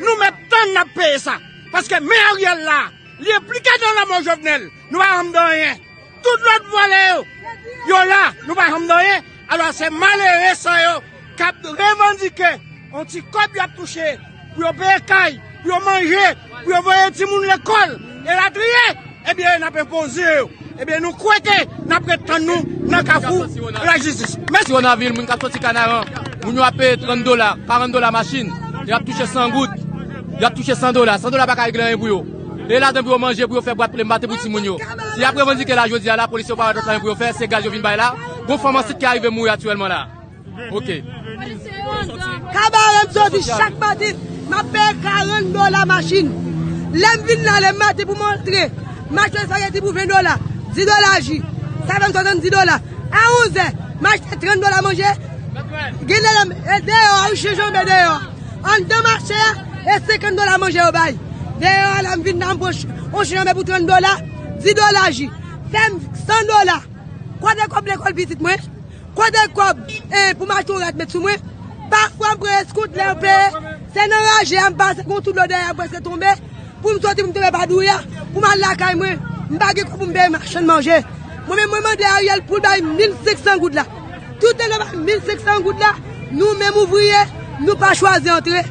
Nou mèt tann nap peye sa. Paske men Ariel la, li enplike nan lanmò Jovenel. Nou pa janm di anyen. Tout lòt vòlè yo, yo la, nou pa janm di anyen. Alò se malere sa yo kap revandike yon ti kòb yo ap touche pou yo peye kay, pou yo manje, pou yo voye timoun lekòl. Elatriye, ebyen n ap enpoze yo. Ebyen nou kwè ke n ap ret tann nou nan kafou lajistis. Mèsi. Siwonavil, moun k ap soti Kanaran, moun yo ap peye 30 dola, 40 dola machin, y ap touche 100 goud, y ap touche 100 dola. 100 dola pa ka regle anyen pou yo. E ladan pou yo manje, pou yo fè bwat plenbate pou timoun yo. Si y ap revandike la jodi a, lapolis yo pa wè lòt anyen pou yo fè, se gaz yo vin bay la. Gon fanm ansit ki arive mouri aktyèlman la. Ok. Kabaret jodi chak madi map peye 40 dola machin lem vin la le madi pou m antre m achte spaghetti pou 20 dola 10 dola ji sa fem 70 dola a 11 è m achte 30 dola manje gen lè lem e deyo a ou chen janbe deyo andan mache a e 50 dola manje yo bay deyo a lem vin la m pran on chen janbe pou 30 dola 10 dola ji fem 100 dola kote kob lekol pitit mwen. Kote kob eh pou m achte yon rad met sou mwen Pafwa m pran eskout lè yo peye Se nan raje a m pase gon ti dlo dèyè a m prèske tonbe Pou m soti pou m tonbe pa dou ya Pou m al lakay mwen M pa gen kòb pou m peye machann manje Mwen menm mwen mande Ariel pou l bay m 1500 goud la Toutan l pa bay m 1500 goud la Nou menm ouvriye nou pa chwazi antre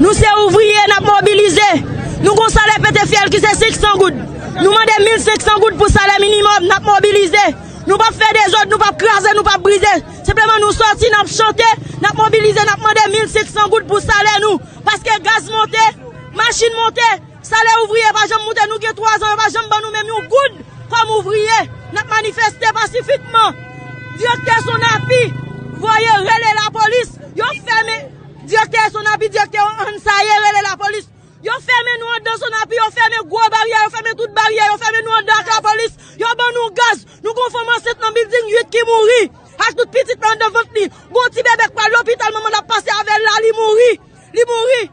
Nou se ouvriye, n ap mobilize. Nou gen yon salè pete fyèl ki se 500 goud. Nou mande 1500 goud pou salè minimòm. N ap mobilize. Nou pap fè dezòd, nou pap kraze, nou pap brize. Senpleman nou sòti, n ap chante, n ap mobilize, n ap mande 1500 goud pou salè nou. Paske gaz monte, machin monte. Salè ouvriye pa janm moute nou gen 3 zan yo pa janm ban nou menm yon goud kòm ouvriye nap manifeste pasifikman direktè sonapi voye rele lapolis yo fèmen direktè sonapi direktè an saye rele lapolis yo fèmen nou andan sonapi yo fèmen gwo baryè yo fèmen tout baryè yo fèmen nou andan ak lapolis yo ban nou gaz nou gon fanm ansent nan bilding 8 ki mouri ak tout pitit nan andan vant li gon ti bebe k pral lopital manman l ap pase avèl la li mouri li mouri.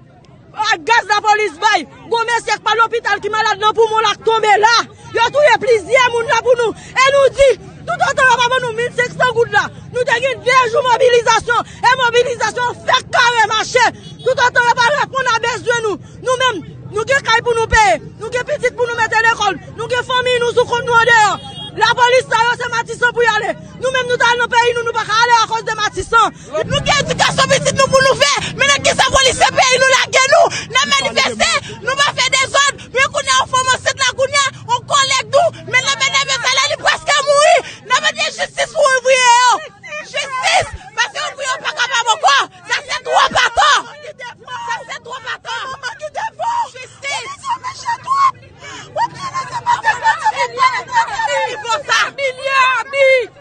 Ak gaz lapolis bay. Bon mesye k pa lopital ki malad nan poumon l ak tonbe la. Yo touye plizyè moun la pou nou. E nou di toutotan yo pa ban nou 1500 goud la. Nou te gen 2 jou mobilizasyon. E mobilizasyon an fèk kare mache. Toutotan yo pa reponn a bezwen nou. Nou menm nou gen kay pou nou peye. Nou gen pitit pou nou mete lekòl. Nou gen fanmiy nou sou kont nou andeyò. Lapolis sa yo se matisan pou y ale. Nou menm nou ta al nan peyi nou nou pa ka ale akoz de matisan. Nou gen edikasyon pitit nou pou nou fè men nan kisa polisye peyi nou lage nou nan manifeste nou pa fè dezòd men kounya yon fanm ansent la kounya yon kòlèg nou met nan men nève sa la li prèske mouri nan mande jistis pou ouvriye yo jistis paske ouvriye yo pa kapab ankò sa se twòp atò sa se twòp atò jistis wap janese pase sa se milyè abi